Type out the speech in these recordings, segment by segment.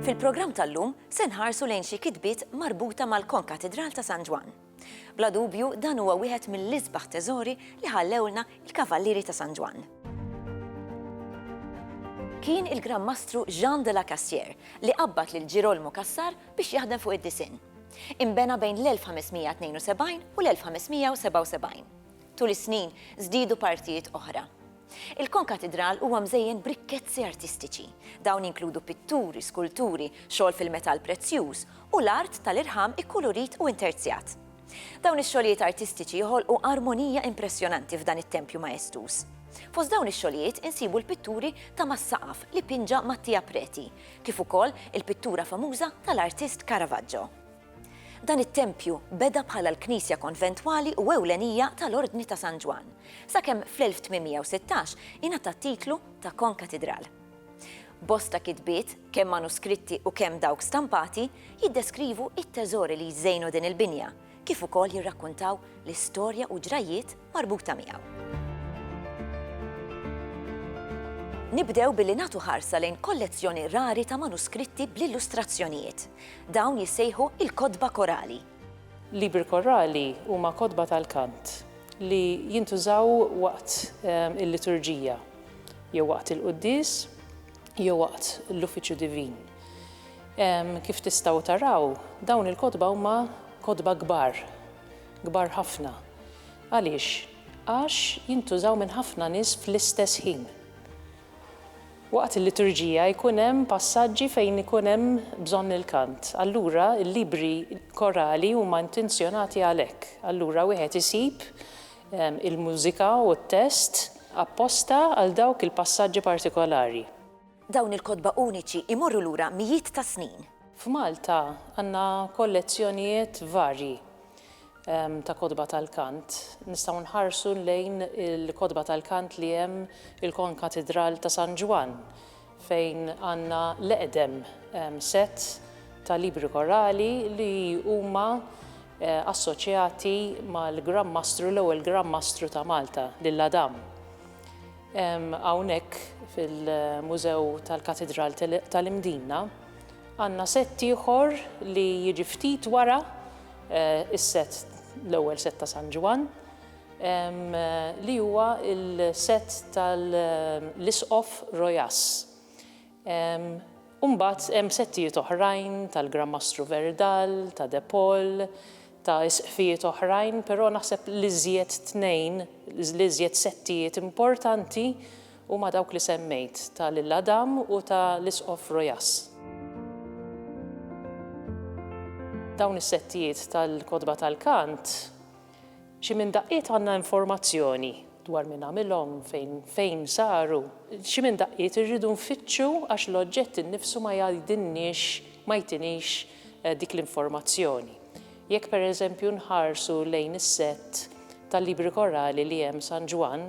Fil-programm tal-lum se nħarsu lejn xi kitbiet marbuta mal-Konkatidral ta' San Ġwann. Bla dubju dan huwa wieħed mill-isbaħ teżori li ħallewlna il-Kavallieri ta' San Ġwann. Kien il-Gran Mastru Jean de la Cassière li qabbad lil Girolmo Cassar biex jaħdem fuq id-disinn. Imbena bejn l-1572 u l-1577. Tul is-snin żdiedu partijiet oħra. Il-konkatidral huwa mżejjen b'rikkezzi artistiċi. Dawn jinkludu pitturi, skulturi, xogħol fil-metall prezzjuż, u l-art tal-irħam ikkulurit u interzjat. Dawn ix-xogħlijiet artistiċi joħolqu armonija impressjonanti f'dan it-tempju maestuż. Fost dawn ix-xogħlijiet insibu l-pitturi ta' mas-saqaf li pinġa Mattia Preti, kif ukoll il-pittura famuża tal-artist Caravaggio. Dan it-tempju beda bħala l-knisja konventwali u ewlenija tal-Ordni ta' San Ġwann, sakemm fl-1816 ingħata t-titlu ta' konkatidral. Bosta kitbiet, kemm manuskritti u kemm dawk stampati, jiddeskrivu t-teżori li jżejnu din il-binja, kif ukoll jirrakkuntaw l-istorja u ġrajjiet marbuta miegħu. Nibdew billi nagħtu ħarsa lejn kollezzjoni rari ta' manuskritti bl-illustrazzjonijiet. Dawn jissejħu il-kotba korali. Libri korali huma kotba tal-kant li jintużaw waqt ehm, il-liturġija, jew waqt il-quddies, jew waqt l-uffiċċju divin. Ehm, kif tistgħu taraw, dawn il-kotba huma kotba kbar kbar ħafna. Għaliex? Għax jintużaw minn ħafna nies fl-istess ħin. Waqt il-liturġija jkun hemm passaġġi fejn ikun hemm bżonn il-kant. Allura l-libri korali huma intenzjonati għalhekk. Allura wieħed isib il-mużika u t-test apposta għal dawk il-passaġġi partikolari. Dawn il-kotba uniċi jmorru lura mijiet ta' snin. F'Malta għandna kollezzjonijiet varji ta' kotba tal-kant. Nistgħu nħarsu lejn il-kotba tal-kant li hemm il-Konkatidral ta' San Ġwann fejn għandna l-eqdem sett ta' libri korali li huma assoċjati mal-Gran Mastru, l-ewwel Gran Mastru ta' Malta, lil Adam. Hawnhekk fil-Mużew tal-Katidral tal-Imdina għandna sett ieħor li jiġi ftit wara is-sett l-ewwel sett ta' San Ġwann li huwa l-sett tal-Isqof Rojas. U mbagħad hemm settijiet oħrajn tal-Gran Mastru Verdal, ta' De Paul, ta' isqfijiet oħrajn, però naħseb l-iżjed tnejn, l-iżjed settijiet importanti huma dawk li semmejt, ta' lil Adam u ta' l-Isqof Rojas. Dawn is-settijiet tal-Kotba tal-Kant, Xi minn daqqiet għandna informazzjoni dwar min għamilhom, fejn fejn saru. Xi minn daqqiet irridu nfittxu għax l-oġġett innifsu ma jgħidilniex, ma jtinix dik l-informazzjoni. Jekk pereżempju nħarsu lejn is-sett tal-libri korali li hemm San Ġwann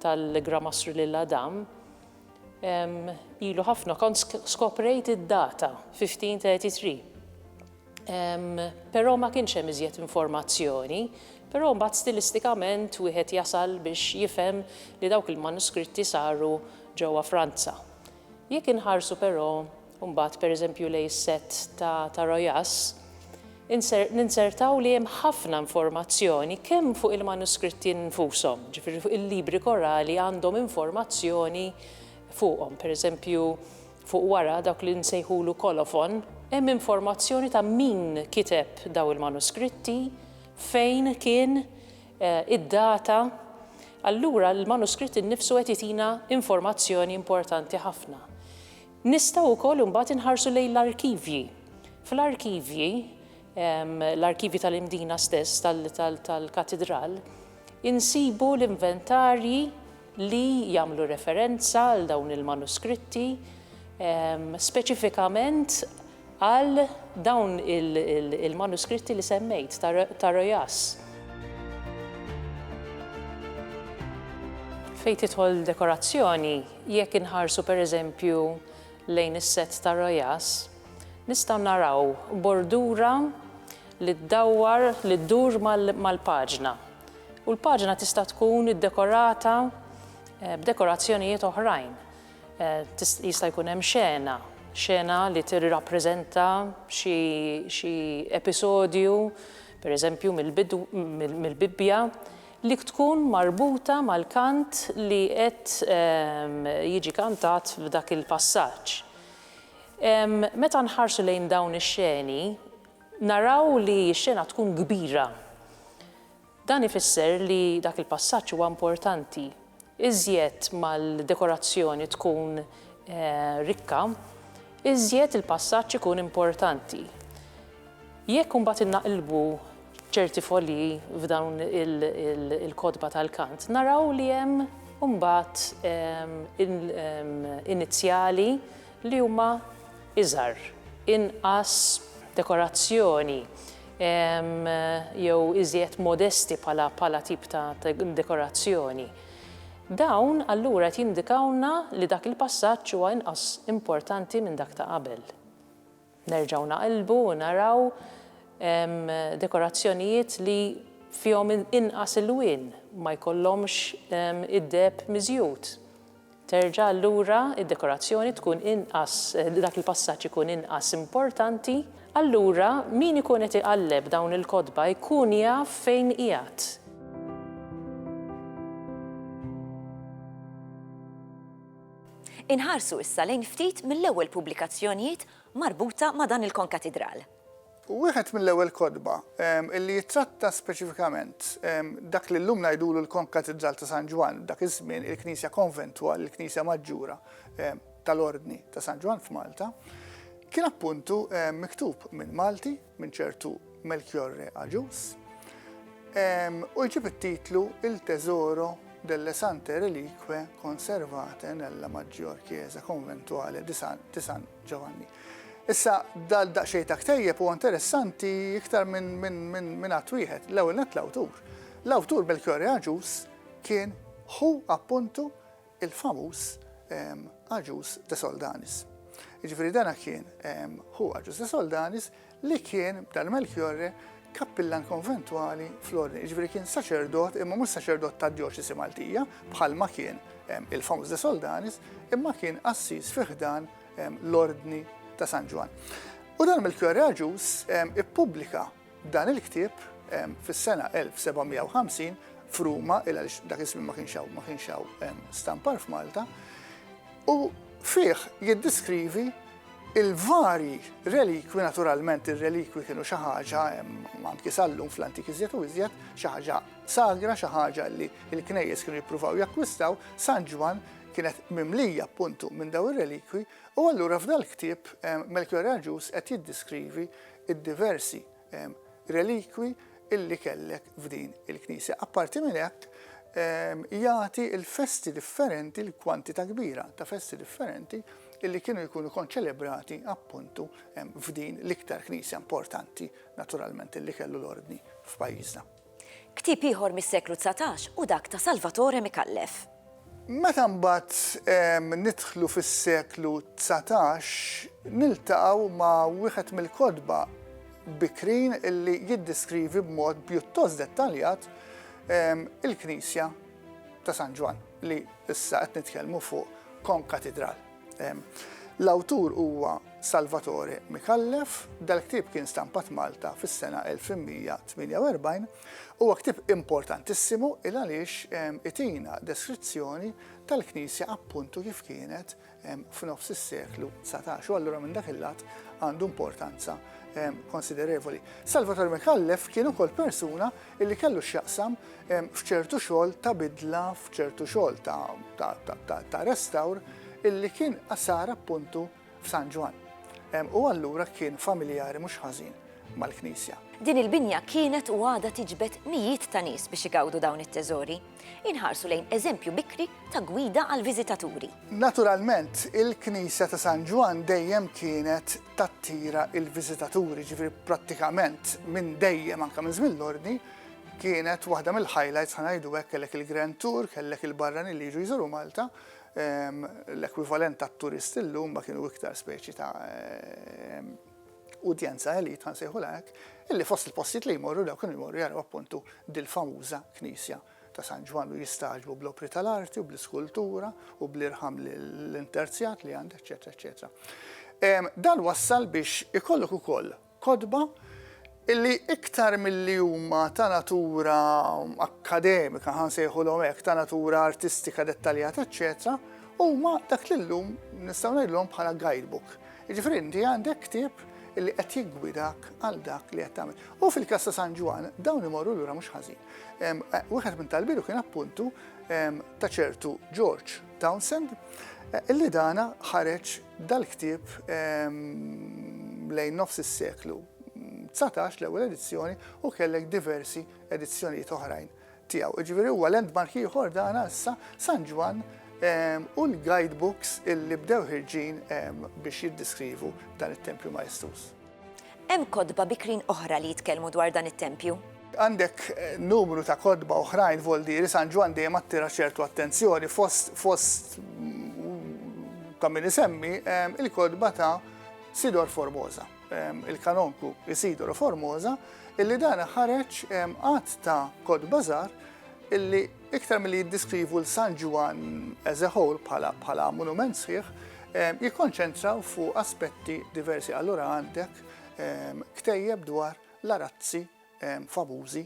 tal-Gramastru lil Adam, ilu ħafna kont skoprejt id-data, 1533. Però ma kienx hemm iżjed informazzjoni, però mbagħad stilistikament wieħed jasal biex jifhem li dawk il-manuskritti saru ġewwa Franza. Jekk inħarsu però mbagħad pereżempju lejn is-sett ta' ta' Rojas, inser, ninsertaw li hemm ħafna informazzjoni kemm fuq il-manuskritti nfushom, ġifieri fuq il-libri korali għandhom informazzjoni fuqhom, pereżempju, Fuq wara, dak li nsejħulu kolofon, hemm informazzjoni ta' min kiteb dawn il-manuskritti, fejn kien, id-data. Allura l-manuskritt innifsu qed jtina informazzjoni importanti ħafna. Nistgħu wkoll imbagħad inħarsu lejn l-arkivji. Fl-arkivji, l-arkivji tal-Imdina stess, tal-Katidral, insibu l-inventarji li jagħmlu referenza għal dawn il-manuskritti, speċifikament għal dawn il-manuskritti li semmejt ta' Rojas. Fejn tidħol dekorazzjoni, jekk inħarsu pereżempju lejn is-sett ta' Rojas, nistgħu naraw bordura li ddawwar, li ddur mal-paġna. U l-paġna tista' tkun iddekorata b'dekorazzjonijiet oħrajn. Jista' jkun hemm xena, xena li tirrappreżenta xi episodju, pereżempju mill-Bibbja, li tkun marbuta mal-kant li qed jiġi kantat f'dak il-passaġġ. Meta nħarsu lejn dawn ix-xeni, Naraw li x-xena tkun kbira. Dan ifisser li dak il-passaġġ huwa importanti. Iżjed ma l-dekorazzjoni tkun rikka, iżjed il-passaġġ ikun importanti. Jekk imbagħad innaqilbu ċerti folji f'dawn il-kotba tal-kant, naraw li hemm imbagħad inizjali, li huma iżgħar, inqas dekorazzjoni jew iżjed modesti bħala tip ta' dekorazzjoni. Dawn allura qed jindikawlna li dak il-passaġġ huwa inqas importanti minn dak ta' qabel. Nerġgħu naqilbu u naraw dekorazzjonijiet li fihom inqas ilwien, ma jkollhomx id-deheb miżjud. Terġa' allura d-dekorazzjoni tkun inqas, dak il-passaġġ ikun inqas importanti. Allura min ikun qed iqalleb dawn il-kotba jkun jaf fejn qiegħed. Inħarsu issa lejn ftit mill-ewwel pubblikazzjonijiet marbuta ma' dan il-konkatidral. Wieħed mill-ewwel kotba li jittratta speċifikament dak li llum ngħidulu l-Konkatidral ta' San Ġwann, dak iż-żmien il-Knisja Konventwal, il-Knisja Maġġura tal-Ordni ta' San Ġwann f'Malta, kien appuntu miktub minn Malti. minn ċertu Melchiorre Agius, u jġib it-titlu Il Tesoro delle Sante Relique Conservate nella Maggior Chiesa Conventuale di San, di San Giovanni. Issa, dal daqxej ta' ktejjeb u interessanti iktar minn min, min, min għat wieħed, l-ewwel net l-awtur. L-awtur Belkjori Aġus kien hu appuntu il-famuż Agius de Soldanis. Jiġifieri dan kien ħu Agius de Soldanis li kien b'dan Melchiorre kappillan konventwali fl-ordni, jiġifieri kien saċerdot imma mhux saċerdot tad-djoċesi Maltija bħalma kien il-famuż de Soldanis imma kien qassis fi ħdan l-ordni ta' San Ġwann. U dan Melchiorre Agius ippubblika Dan il-ktieb fis-sena 1750 f'Ruma, il għaliex dak iż-żmien ma kienx hawn ma kienx hawn stampar f'Malta, u fih jiddiskrivi il-varji relikwi, naturalment ir-relikwi kienu xi ħaġa anki sal-lum fl-antik iżjed u iżjed, xi ħaġa sagra, xi ħaġa li l-knejjes kienu jippruvaw jakkwistaw, San Ġwann kienet mimlija appuntu minn daw ir-relikwi, u allura f'dal-ktieb Melchior Agius qed jiddiskrivi id-diversi relikwi li kellek f'din il-knisja. Apparti minn hekk, jagħti l-festi differenti, l-kwantità kbira ta' festi differenti li kienu jkunu konċelebrati appuntu f'din l-iktar knisja importanti naturalment li kellu l-ordni f'pajjiżna. Ktieb ieħor mis-seklu dsatax hu dak ta' Salvatore Micallef. Meta mbagħad nidħlu fis-seklu dsatax niltaqgħu ma' wieħed mill-kotba bikrin li jiddeskrivi b'mod pjuttost dettaljat il-knisja ta' San Ġwann li issa qed nitkellmu fuq kon katidral. L-awtur huwa Salvatore Micallef. Dal-ktieb kien stampat Malta fis-sena 1148. Huwa ktieb importantissimu il għaliex itina deskrizzjoni tal-Knisja appuntu kif kienet f'nofs is-seklu dsatax u allura minn dak il-lat għandu importanza konsiderevoli. Salvatore Micallef kien ukoll persuna li kellu x'jaqsam f'ċertu xogħol ta' bidla, f'ċertu xogħol ta' restawr illi kien sar appuntu f'San Ġwann. U allura kien familjari mhux ħażin mal-knisja. Din il-binja kienet u għadha tiġbed mijiet ta' nies biex igawdu dawn it-teżori. Inħarsu lejn eżempju bikri ta' gwida għall-viżitaturi. Naturalment, il-Knisja ta' San Ġwann dejjem kienet tattira l-viżitaturi, ġifieri prattikament minn dejjem anke minn żmien l-Ordni, kienet waħda mill-highlights ħa ngħidu hekk kellek il-Grand Tour, kellek il-barranin li jiġu jżuru Malta, ehm, l-ekwivalent tat-turist illum ma kienu iktar speċi ta' ehm, udjenza elite, ħa nsejħulha hekk, illi fost il-postijiet li jmorru dawk kienu jmorru jaraw appuntu dil-famuża knisja ta' San Ġwann u jistagħġbu bl-opri tal-arti u bl-iskultura u bl-irħam l-interzjat li għandha, eċċetera, eċċetera. Dan wassal biex ikollok ukoll kotba illi iktar milli huma ta' natura akkademika, ħa nsejħulhom hekk, ta' natura artistika dettaljata, eċċetera, huma dak li llum nistgħu ngħidlhom bħala guidebook. Jiġifieri inti għandek ktieb li qed jiggwidak għal dak li qed tagħmel. U fil-każ ta' San Ġwan dawn imorru lura mhux ħażin. Eh, wieħed minn talbilu kien appuntu ta' ċertu George Townsend eh, illi dana ħareġ dal-ktieb lejn nofs is-seklu 19 l-ewwel edizzjoni u kellek diversi edizzjonijiet oħrajn tiegħu. Jiġifieri huwa landmark ieħor dan issa San Ġwann ehm, u l-guidebooks illi bdew ħirġin ehm, biex jiddiskrivu dan it-tempju maestuż. Hemm kodba bikrin oħra li jitkellmu dwar dan it-tempju? Għandek eh, numru ta' kodba oħrajn voldiri San Ġwann dejjem attira ċertu attenzjoni fost fost mm, ta' min isemmi ehm, il-kodba ta' Sidor Formosa. il-Kanonku Isidoro Formosa, illi dan ħareġ għadd ta' kotba żgħar illi iktar milli jiddiskrivu l-San Ġwan as a whole bħala monument sħiħ, jikkonċentraw fu aspetti diversi. Allura għandek ktejjeb dwar l-arazzi famużi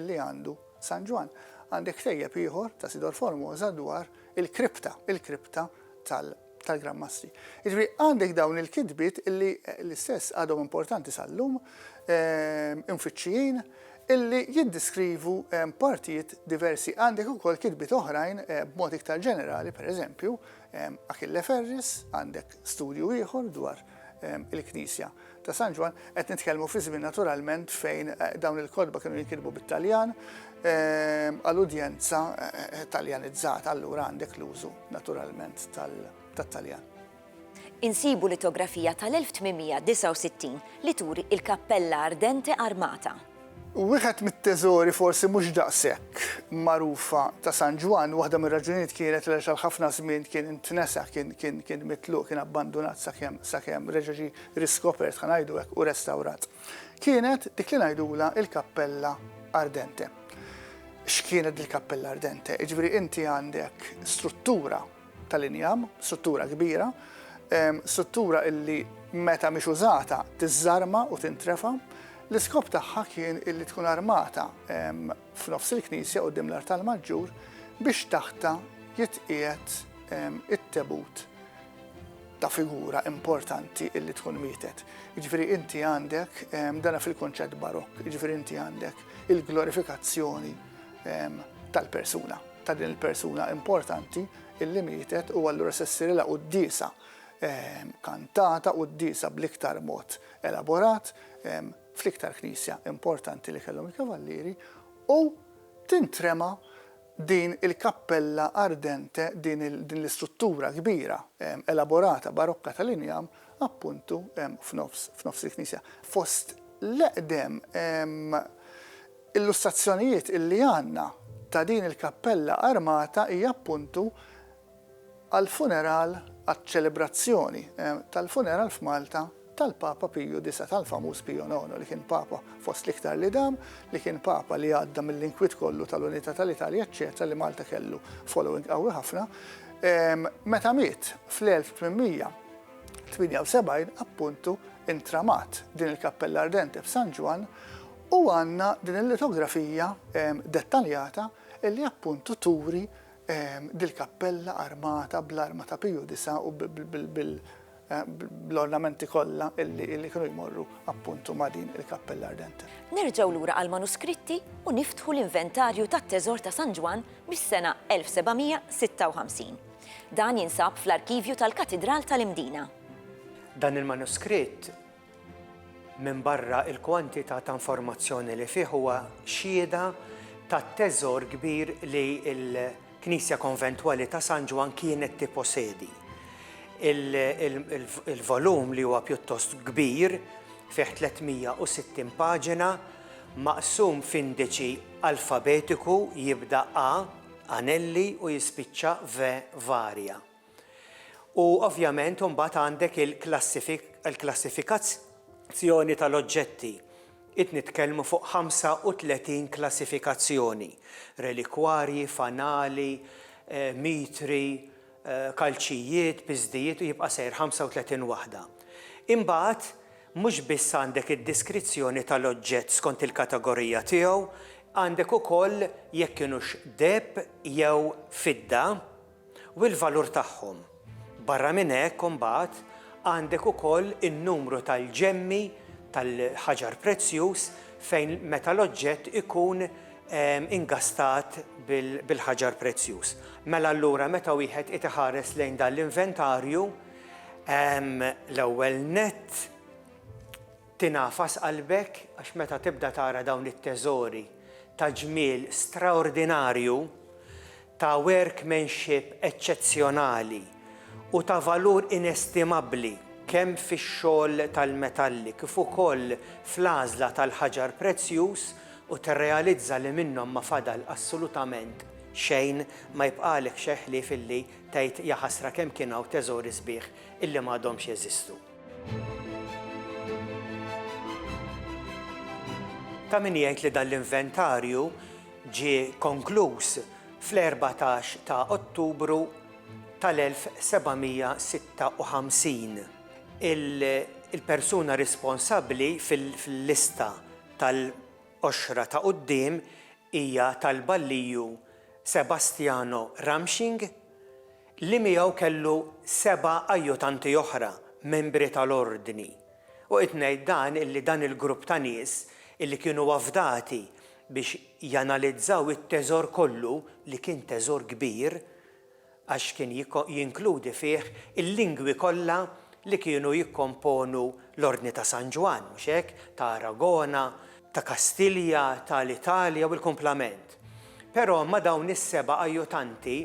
li għandu San Ġwann. Għandi ktejjeb ieħor ta' Sidor Formosa dwar il-kripta, il-kripta tal-Gran Mastri. Jiġri għandek dawn il-kitbiet illi l-istess għadhom importanti sal-lum, imfittxijin, illi jiddiskrivu partijiet diversi. Għandek ukoll kitbiet oħrajn b'mod iktar ġenerali, per eżempju, Achille Ferris, għandek studju ieħor dwar il-Knisja ta' San Ġwann, qed nitkellmu fi żmien naturalment fejn dawn il-kotba kienu jinkitbu bit-Taljan għal udjenza Taljanizzata, allura għandek l-użu naturalment tat-Taljan. Insibu litografija tal-1869 li turi il-kappella ardente armata. Wieħed mit-teżori forsi mhux daqshekk magħrufa ta' San Ġwann, waħda mir-raġunijiet kienet għaliex għal ħafna żmien kien intnesa, kien kien kien mitluq, kien abbandunat sakemm sakemm reġa' ġie riskopert, ħa ngħidu hekk, u restawrat, kienet dik li ngħidulha l-Kappella Ardente. X'kienet dil-Kappella Ardente? Jiġifieri inti għandek struttura tal-injam, struttura kbira, struttura illi meta mhix użata tiżżarma u tintrefa'. L-iskop tagħha kien illi tkun armata f'nofs il-knisja quddiem l-artal maġġur biex taħtha jitqiegħed it-tebut ta' figura importanti illi tkun mietet. Jiġifieri inti għandek dana fil-kunċett Barokk, jiġifieri inti għandek il-glorifikazzjoni tal-persuna, ta' din il-persuna importanti illi mietet u allura se ssirilha quddiesa kantata, quddiesa bl-iktar mod elaborat fl-iktar knisja importanti li kellhom il-Kavallieri u tintrema din il-kappella ardente, din l-istruttura kbira elaborata barokka tal-injam appuntu f'nofs il-knisja. Fost l-eqdem Illustrazzjonijiet illi għandna ta' din il-kappella armata hija appuntu għall-funeral għaċ-ċelebrazzjoni tal-funeral f'Malta tal-Papa Piju Disa', tal-famuż Pio Nono li kien Papa fost l-iktar li dam, li kien Papa li għadda mill-inkwiet kollu tal-unità tal-Italja eċċetera li Malta kellu following qawwi ħafna. Meta miet fl-1878 appuntu intramat din il-kappella ardente f'San Ġwann U għandna din il-litografija dettaljata li appuntu turi dil-kappella armata bl-arma ta' Piju Disa' u bl-ornamenti kollha li kienu jmorru appuntu ma' din il-kappella ardente. Nerġgħu lura għall-manuskritti u niftħu l-inventarju tat-teżor ta' San Ġwann mis-sena 1756. Dan jinsab fl-arkivju tal-Katidral tal-Imdina. Dan il-manuskritt Minbarra l-kwantità ta' informazzjoni li fih huwa xhieda tat-teżor kbir li l-Knisja Konventwali ta' San Ġwann kienet tipposedi. Il-volum li huwa pjuttost kbir, fih 360 paġina, maqsum f'indiċi alfabetiku jibda A, Anelli, u jispiċċa V, Varia. U ovvjament imbagħad għandek il-klassifikazz-joni tal-oġġetti. Id nitkellmu fuq 35 klassifikazzjoni, relikwarji, fanali, mitri, kalċijiet, piżdijiet u jibqa' sejr 35 waħda. Imbagħad mhux biss għandek id-diskrizzjoni tal-oġġett skont il-kategorija tiegħu, għandek ukoll jekk kinux deheb jew fidda, u l-valur tagħhom. Barra minn hekk imbagħad għandek ukoll in-numru tal-ġemmi tal-ħaġar prezzjuż fejn meta l-oġġett ikun ingastat bil-ħaġar prezzjuż. Mela allura meta wieħed qed iħares lejn dan l-inventarju, l-ewwel nett, Tingħafas qalbek għax meta tibda tara dawn it-teżori ta' ġmiel straordinarju, ta' workmanship eċċezzjonali u ta' valur inestimabbli kemm fix-xogħol tal-metalli kif ukoll fl-għażla tal-ħaġar prezzjuż u tirrealizza li minnhom ma fadal assolutament xejn, ma jibqagħlek xejn ħlief illi tgħid jaħasra kemm kien hawn teżori sbieħ illi m'għadhomx jeżistu. Ta' min jgħid li dan l-inventarju ġie konkluż fl-14 ta' Ottubru tal-1756. Il-persuna responsabbli fil-lista tal-għoxra ta' quddiem hija tal-balliju Sebastiano Ramsching. li miegħu kellu seba' ajjutanti oħra, membri tal-Ordni. U qed ngħid dan illi dan il-grupp ta' nies illi kienu afdati biex janalizzaw it-teżor kollu, li kien teżor kbir, għax kien jinkludi fih il-lingwi kollha li kienu jikkomponu l-Ordni ta' San Ġwann, mhux hekk, ta' Aragona, ta' Kastilja, ta' l-Italja u l-kumplament. Però ma' dawn is-seba' ajjutanti,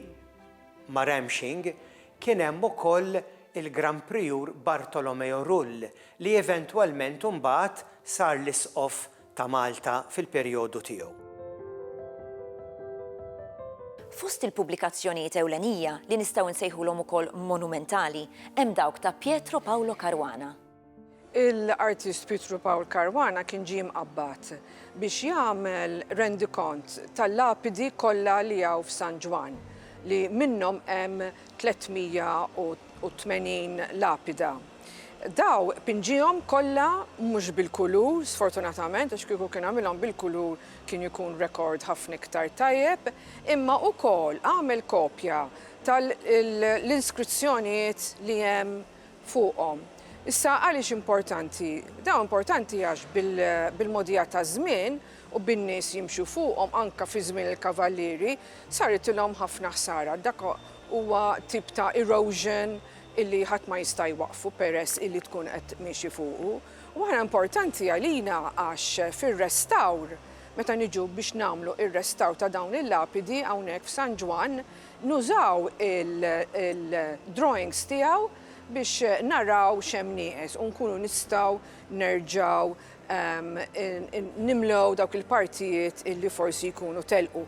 Ma' Ramshing kien hemm ukoll il-Gran Prijur Bartolomeo Rull li eventwalment imbagħad sar l-Isqof ta' Malta fil-perjodu tiegħu. Fost il-pubblikazzjonijiet ewlenija, li nistgħu nsejħulhom ukoll monumentali, hemm dawk ta' Pietro Paolo Caruana. l-artist Pietru Pawl Caruana kien ġie mqabbad biex jagħmel rendikont tal-lapidi kollha li hawn f'San Ġwann, li minnhom hemm 380 lapida. Dawn pinġiehom kollha mhux bil-kulur, sfortunatament, għax kieku kien għamilhom bil-kulur kien ikun rekord ħafna iktar tajjeb, imma ukoll għamel kopja tal-inskrizzjonijiet li hemm fuqhom. Issa għaliex importanti? Dawn importanti għax bil-mogħdija taż-żmien u bin-nies jimxu fuqhom anke fi żmien il-kavallieri saritilhom ħafna ħsara. Dak huwa tip ta' erosion illi ħadd ma jista' jwaqqfu peress illi tkun qed miexi fuqu. U aħna importanti għalina għax fir-restawr, meta niġu biex nagħmlu r-restawr ta' dawn il-lapidi hawnhekk f'San Ġwann, Nużaw il-drawings tiegħu biex naraw x'hemm nieqes u nkunu nistgħu nerġgħu nimlew dawk il-partijiet li forsi jkunu telqu.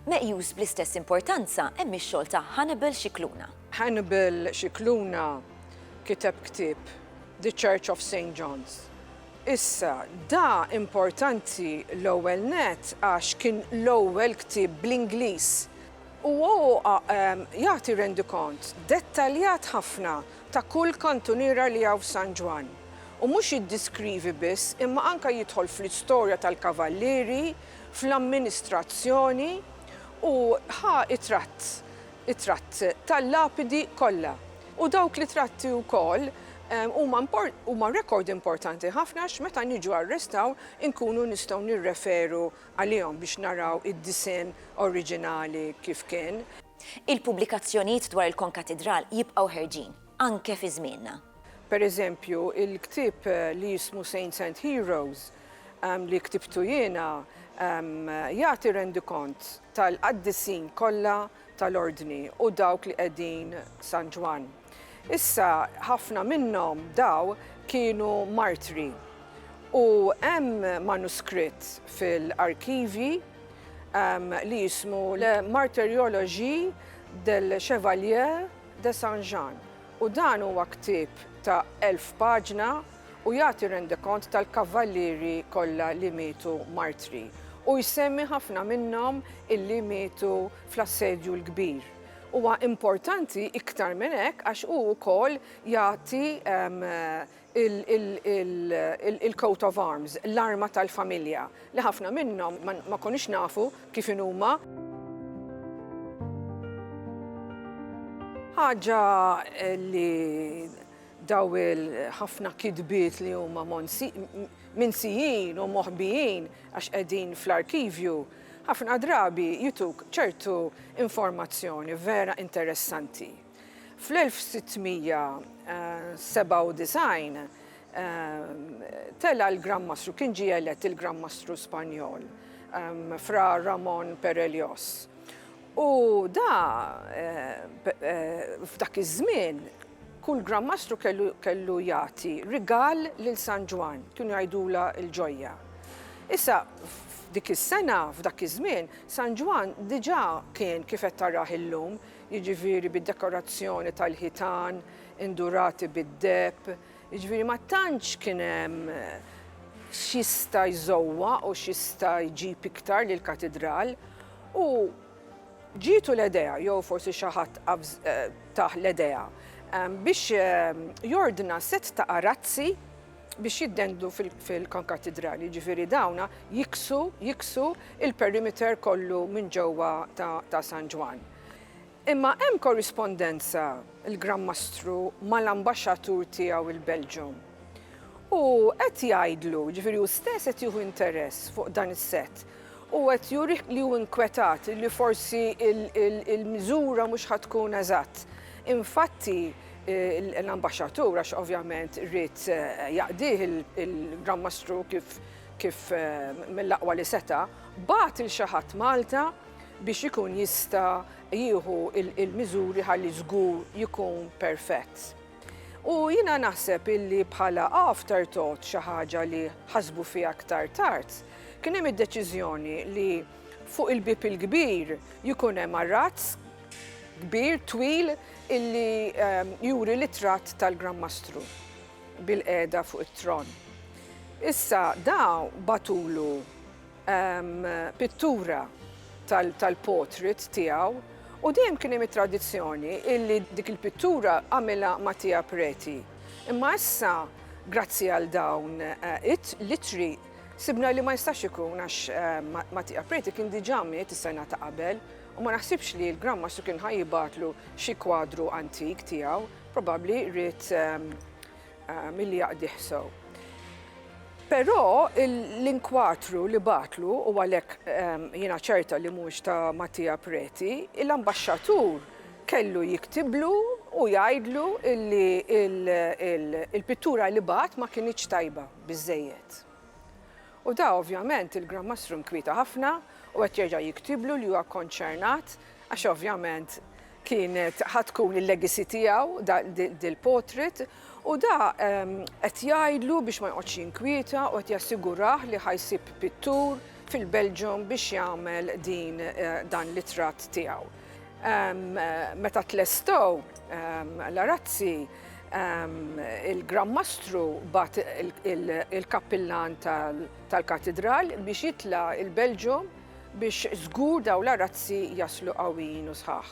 Meqjus bl-istess importanza hemm ix-xogħol ta' Hannibal Scicluna. Hannibal Scicluna kiteb ktieb, The Church of Saint John's. Issa, da importanti l-ewwel nett għax kien l-ewwel ktieb bl-Ingliż u jagħti rendikont dettaljat ħafna ta' kull kantuniera li hawn f'San Ġwann, u mhux jiddiskrivi biss imma anke jidħol fl-istorja tal-Kavallieri, fl-amministrazzjoni u ħa t-tratt, it-tratt tal-lapidi kollha. U dawk l-itratti wkoll huma rekord importanti ħafna għax meta niġu għar-restawr inkunu nistgħu nirreferu għalihom biex naraw id-disinn oriġinali kif kien. Il-pubblikazzjonijiet dwar il-konkatidral jibqgħu ħerġin, anke fi żmienna. Per eżempju, il-ktieb li jismu Saints and Heroes, li ktibtu jiena, jagħti rendikont tal-qaddisin kollha tal-Ordni u dawk li qegħdin San Ġwann. Issa, ħafna minnhom, daw, kienu martri. U hemm manuskritt fil-arkivji li jismu La martyriologie del Chevalier de Saint Jean, u dan huwa ktieb ta' elf paġna u jagħti rendikont tal-kavvallieri kollha li mietu martri, u jsemmi ħafna minnhom illi mietu fl-Assedju l-Kbir. Huwa importanti iktar minn hekk għax hu wkoll jagħti il-coat of arms, l-arma tal-familja, li ħafna minnhom ma konniex nafu kif inhuma. Ħaġa li dawn il-ħafna kitbiet li huma minsijin u moħbijin għax qegħdin fl-arkivju, Ħafna drabi jituk ċertu informazzjoni vera interessanti. Fl-1697 tela' l-Gran Mastru, kien ġie elett il-Gran Mastru Spanjol, Fra Ramon Perellos. U da, f'dak iż-żmien, kull Gran Mastru kellu jagħti rigal lil San Ġwann, kienu jgħidulha l-ġojja. Issa, Dik is-sena, f'dak iż-żmien, San Ġwann diġà kien kif qed tarah illum, jiġifieri bid-dekorazzjoni tal-ħitan indurati bid-deheb, jiġifieri ma tantx kien hemm x'jista' jżowwaq u x'jista' jġib iktar lill-katidral. U ġietu l-idea, jew forsi xi ħadd tah l-idea, biex jordna sett ta' arazzi biex jiddendlu fil-Konkattidrali, jiġifieri dawn jiksu, jiksu il-perimeter kollu minn ġewwa ta' San Ġwann. Imma hemm korrispondenza l-Gran Mastru mal-Ambaxxatur tiegħu l-Belġjum. U qed jgħidlu, jiġifieri hu stess qed jieħu interess fuq dan is-sett, u qed juri li hu inkwetat li forsi l-miżura mhux ħa tkun eżatt. Infatti, l-Ambaxxatur, għax ovvjament ried jaqdih il-Gran Mastru kif mill-aqwa li seta', bagħat lil xi ħadd Malta biex ikun jista' jieħu l-miżuri ħalli żgur jkun perfett. U jiena naħseb illi bħala afterthought, xi ħaġa li ħasbu fiha aktar tard, kien hemm id-deċiżjoni li fuq il-bieb il-kbir jkun hemm arrazz kbir, twil, illi ehm, juri l-ittratt tal-Gran Mastru bil-qeda fuq it-tron. Issa daw batulu pittura tal-portrait tiegħu u dejjem kien hemm it-tradizzjoni illi dik il-pittura għamilha Mattia Preti. Imma issa grazzi għal dawn l-ittri sibna li ma jistax ikun għax Mattia Preti kien diġà miet is-sena ta' qabel u ma naħsibx li l-Gran Mastru kien ħa jibgħatlu xi kwadru antik tiegħu, probabbli ried Ah, milli jaqdih sew. Però l-inkwatru li batlu, u għalhekk ehm, jiena ċerta li mhux ta' Mattia Preti, l-ambaxxatur kellu jiktiblu u jgħidlu li il-pittura li bat ma kinitx tajba biżejjed. U da ovvjament il-Gran Mastru nkwieta ħafna u qed jerġa' jiktiblu li huwa konċernat għax ovvjament kienet ħa tkun il-legacy tiegħu dil-portrait u da qed jgħidlu biex ma joqgħodx jinkwieta u qed jassigurah li ħa jsib pittur fil-Belgium biex jagħmel din dan l-itratt tiegħu. Meta tlestow l-arazzi, il-Granmastru bat il-Kappillan tal-Katidral biex jitla' il-Belġium biex żgur dawn l-arazzi jaslu qawwijin u sħaħ.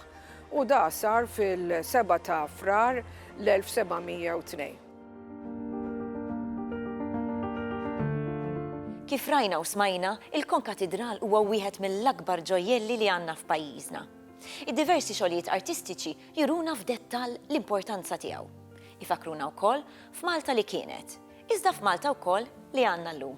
U da sar fil-7 ta' Frar l-1702. Kif rajna u smajna, il-Konkatidral huwa wieħed mill-akbar ġojjelli li għandna f'pajjiżna. Id-diversi xogħlijiet artistiċi juruna f'dettall l-importanza tiegħu. Ifakkruna wkoll f'Malta li kienet, iżda f'Malta wkoll li għandna llum.